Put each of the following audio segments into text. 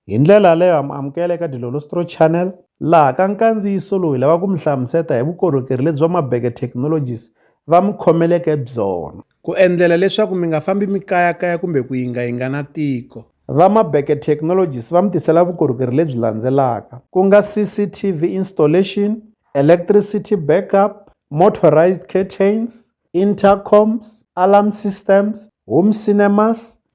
Hi ndlela yaleyo ha mi amukela eka Dilolostro Channel. Laha ka nkandziyiso lowu hi lava ku mi hlamuseta hi vukorhokeri lebyi va Mabeke Technologies va mi khomeleke byona. Ku endlela leswaku mi nga fambi mi kayakaya kumbe ku yingayinga na tiko. Va Mabeke Technologies va mi tisela vukorhokeri lebyi landzelaka, ku nga CCTV installation, electricity backup, motorized curtains, intercoms, alarm systems, home cinemas,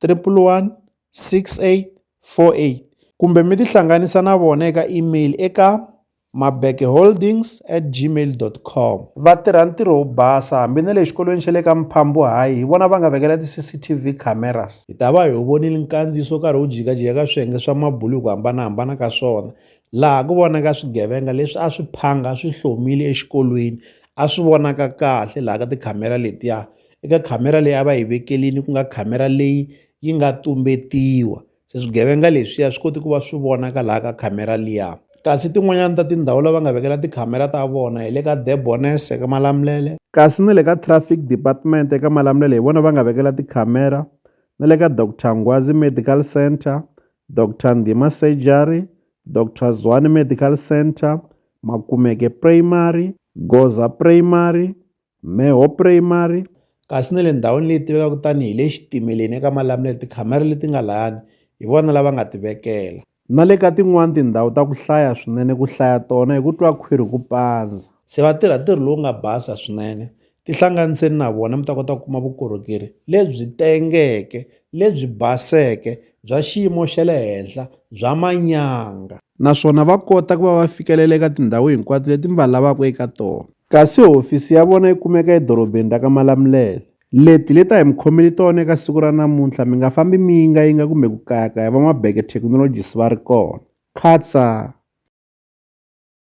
311 6848 kumbe mi tihlanganisa na vona eka email eka mabekeholdings at gmail com va tirha ntirho wo basa hambi na le xikolweni xa le ka mphambu hayi hi vona va nga vekela ti-cctv cameras hi ta va hi wu vonile nkandziyiso karhi wu jikajika ka swiyenge swa mabulu hi ku hambanahambana ka swona laha ku vonaka swigevenga leswi a swi phanga swi hlomile exikolweni a swi vonaka kahle laha ka tikhamera letiya eka khamera leyi a va yi vekerini ku nga khamera leyi yi nga tumbetiwa se swigevenga leswiya swi koti ku va swi vonaka laha ka khamera liya kasi tin'wanyana ta tindhawu lava nga vekela tikhamera ta vona hi le ka debones eka malamulele kasi na le ka traffic department eka malamulele hi vona va nga vekela tikhamera na le ka dr ngwazi medical center dr ndhima surgery dr zwani medical center makumeke primary goza primary Mheho Primary, kasi na le ndhawini leyi tivekaka tani hi le Xitimeleni eka Malamulele tikhamera leti nga layani hi vona lava nga ti vekela. Na le ka tin'wana tindhawu ta ku hlaya swinene ku hlaya tona hi ku twa khwiri ku pandza. Se va tirha ntirho lowu nga basa swinene. Tihlanganiseni na vona mi ta kota ku kuma vukorhokeri lebyi tengeke, lebyi baseke, bya xiyimo xa le henhla, bya manyanga. Naswona va kota ku va va fikelela eka tindhawu hinkwato leti mi va lavaka eka tona. Kasi hofisi ya vona yi kumeka edorobeni ra ka Malamulele. Leti leta hi mi khomeli tona eka siku ra namuntlha mi nga fambi mi yingayinga kumbe ku kayakaya van'wabeke technologies va ri kona. Khatsa!